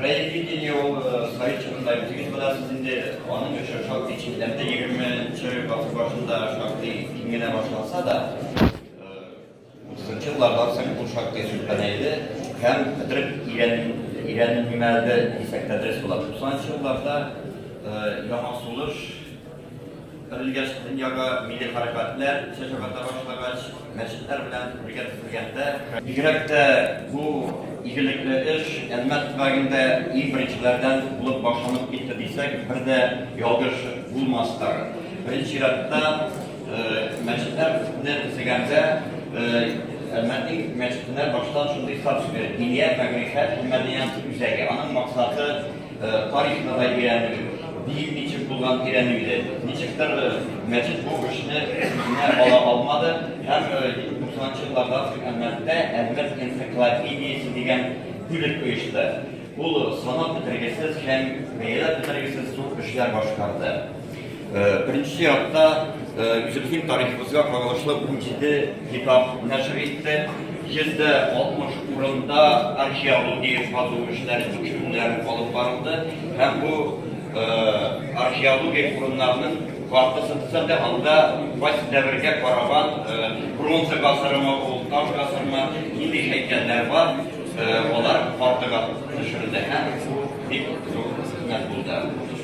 Краеведение ул советчыларда җитеп барасыз инде, аның өчен шактый читләрдә 20-нче гасыр башында шактый киңгенә башласа да, 30-нчы елларда соң бу шактый сүлпәнәйде һәм бетереп ирән ирәнелмәде дисәк тә дөрес була. 90-нчы елларда яңа сулыш Терелгәч, дөньяга милли хәрәкәтләр чәчәк ата башлагач, мәчетләр белән бергә төзелгәндә, бигрәк тә бу игелекле эш Әлмәт төбәгендә иң беренчеләрдән булып башланып китте дисәк, бер дә ялгыш булмас тагын. Беренче чиратта мәчетләрне төзегәндә Әлмәтнең мәчетенә баштан шундый статус бирелде, диния, мәгърифәт һәм мәдәният үзәге. Аның максаты Тарихны да өйрәнү, биюе ничек булган өйрәнү иде. Ничектер мәчет бу эшне үзенә ала алмады һәм 90 елларда Әлмәттә Әлмәт энциклопедиясе дигән бүлек оешты. Ул санап бетергесез һәм бәяләп бетергесез зур эшләр башкарды. Беренче чиратта үзебезнең тарихыбызга кагылышлы 17 китап нәшер итте. 160 урында археология казу эшләре, тикшерүләр алып барылды һәм бу археология урыннарының картасын төзәтә, анда фасил дәверегә караган бронза гасырымы, ул таш гасырымы, нинди һәйкәлләр бар, алар картага төшерелде һәм бик зур хезмәт булды.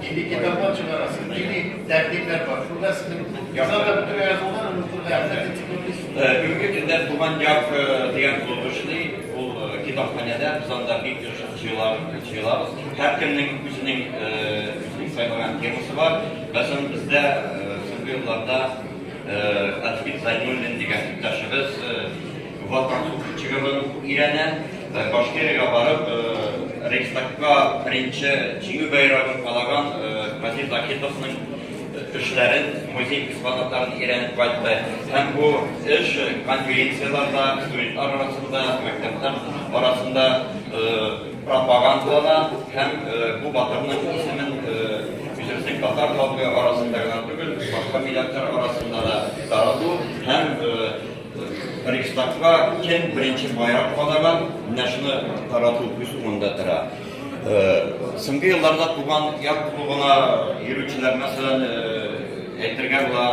Нинди китаплар чыгарасыз, нинди тәкъдимнәр бар? Шунда сезнең яза да бөтенләй язулар, онытылды, хәтта энциклопедия. Бүгенге көндә Туган як дигән клуб эшли, ул китапханәдә, без анда бик еш җыелабыз. Һәркемнең үзенең үзенең сайлаган темасы бар. Мәсәлән, бездә соңгы елларда Әдвин Зайнуллин дигән иптәшебез Ватанның чыгырдан уку өйрәнә, Башкириягә барып, Рейхстагка беренче җиңү байрагын калаган Вадим Закитовның эшләрен, музей экспонатларын өйрәнеп кайтты. Һәм бу эш конференцияләрдә, студентлар арасында, мәктәпләр арасында пропагандалана һәм бу батырның исемен үзебезнең татар халкы арасында гына түгел, башка милләтләр арасында да тарату һәм Рейхстагка кем беренче байрак кадаган, менә шуны тарату күз уңында тора. Соңгы елларда туган яр клубына йөрүчеләр, мәсәлән, әйтергә була,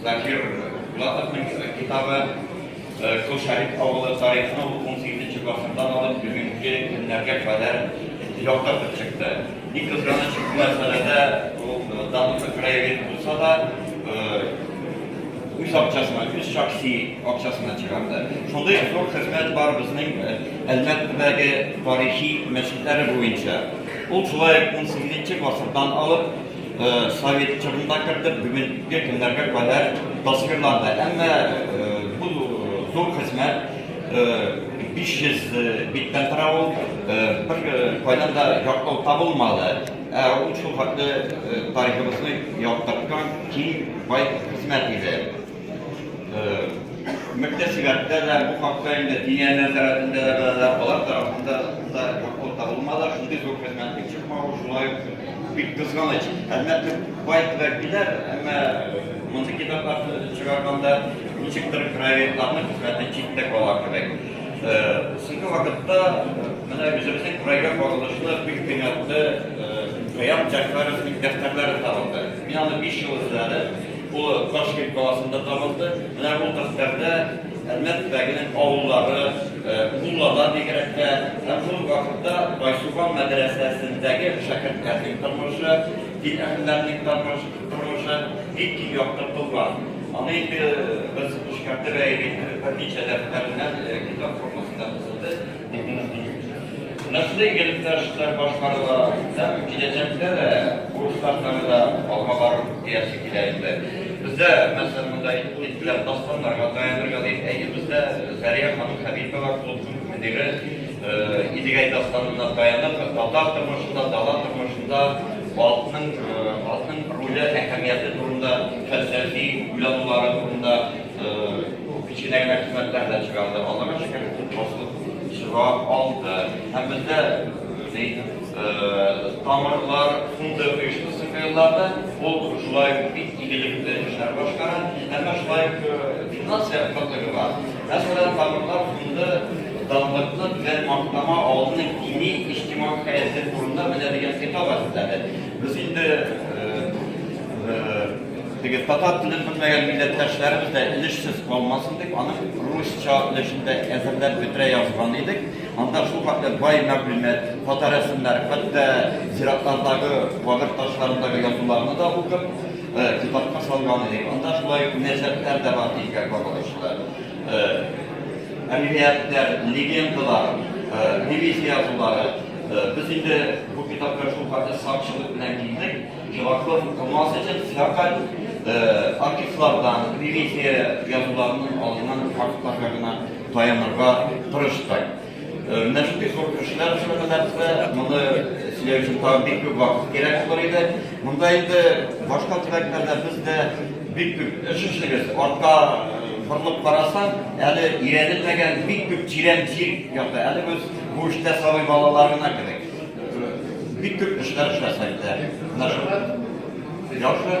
Закир Булатовның китабы Кул Шәриф авылы тарихны 18 гасырдан алып бүгенге көннәргә кадәр яктыртып чыкты. Ни кызганыч, бу мәсьәләдә ул Дануса краевед булса да, үз акчасына, үз шәхси акчасына чыгарды. Шундый зур хезмәт бар безнең э, Әлмәттәге тарихи мәчетләре буенча. Ул шулай 18 гасырдан алып э, совет чорында керде, бүгенге көннәргә кадәр тасвирланды. Әмма э, бу зур хезмәт 500 биттән тора ул, бер кайдан да яклау табылмады. Ә ул шул хәтле тарихыбызны яктырткан киң, бай хезмәт иде. Мөктәсибәттә дә бу хакта инде дигәннәр тарафында да беләләр, алар тарафында да яклау табылмады, шундый зур хезмәтнең чыкмавы шулай бик кызганыч. Әлбәттә, бай киләр, әмма мондый китапларны чыгарганда ничектер краеведларның хезмәте читтә кала кебек. Соңгы вакытта менә үзебезнең крайга кагылышлы бик кыйммәтле Хәят Җәгъфәровның дәфтәрләре табылды. Мин аны 5 ел эзләде. Ул Ташкент каласында табылды. Менә бу дәфтәрдә Әлмәт төбәгенең авыллары, Муллада бигрәктә, һәм шул вакытта Байсуган мәдрәсәсендәге шәкертләрнең тормышы, дин әһелләренең тормышы, Тормышы бик киң яктыртылган. Аны инде без эшкәртеп әйбит берничә дәфтәреннән китап формасында төзелде, дип мине сөйлиләр. Менә шундый игелекле эшләр башкарыла һәм киләчәктә дә бу эшләр тагы да алга барыр диясе килә инде. Бездә, мәсәлән, монда әйтелгән дастаннарга таянырга дип, әйе, бездә Зәрия ханым Хәбипова клубның мөдире, Идегәй дастанына таянып, татар тормышында, дала тормышында атның атның роле, әһәмияте турында фәлсәфи уйланулары турында кечкенә генә хезмәтләр дә чыгарды. Аллага шөкер, басылып чыга алды. Һәм бездә тамырлар фонды оешмасы кыйрларда ул шулай ук бик игелекле эшләр башкара. Әмма шулай ук финанс ягы кытлыгы бар. Мәсәлән, Табиблар фонды данлыклы белән мактама авылының дини иҗтимагый хәяты турында менә дигән китап әзерләде. Без инде теге татар телен белмәгән милләттәшләребез дә өлешсез калмасын дип, аны русча өлешендә әзерләп бетерә язган идек. Анда шул хакта бай мәгълүмат, фото рәсемнәр, хәтта зиратлардагы кабер ташларындагы язуларны да укып, китапка салган идек. Анда шулай мөнәсәбәтләр дә бар, диелгән Әмгияттәр, легендалар, девиз язулары. Без инде бу китапка шул кадәр сакчылык белән килдек. Чуваков укымас өчен фәкать артистлардан, девиз язуларының алынган фактларга гына таянырга тырыштык. Менә шундый зур кешеләр өчен генә нәрсә, моны сөйләү өчен тагын бик күп вакыт кирәк булыр иде. Монда инде башка төбәкләрдә без дә бик күп эш эшлибез. Артка борылып карасаң, әле өйрәнелмәгән бик күп тирән җир ята. Әле без бу эштә сабый балалар гына кебек. Бик күп эшләр эшләсәк тә. Менә шул. Яхшы.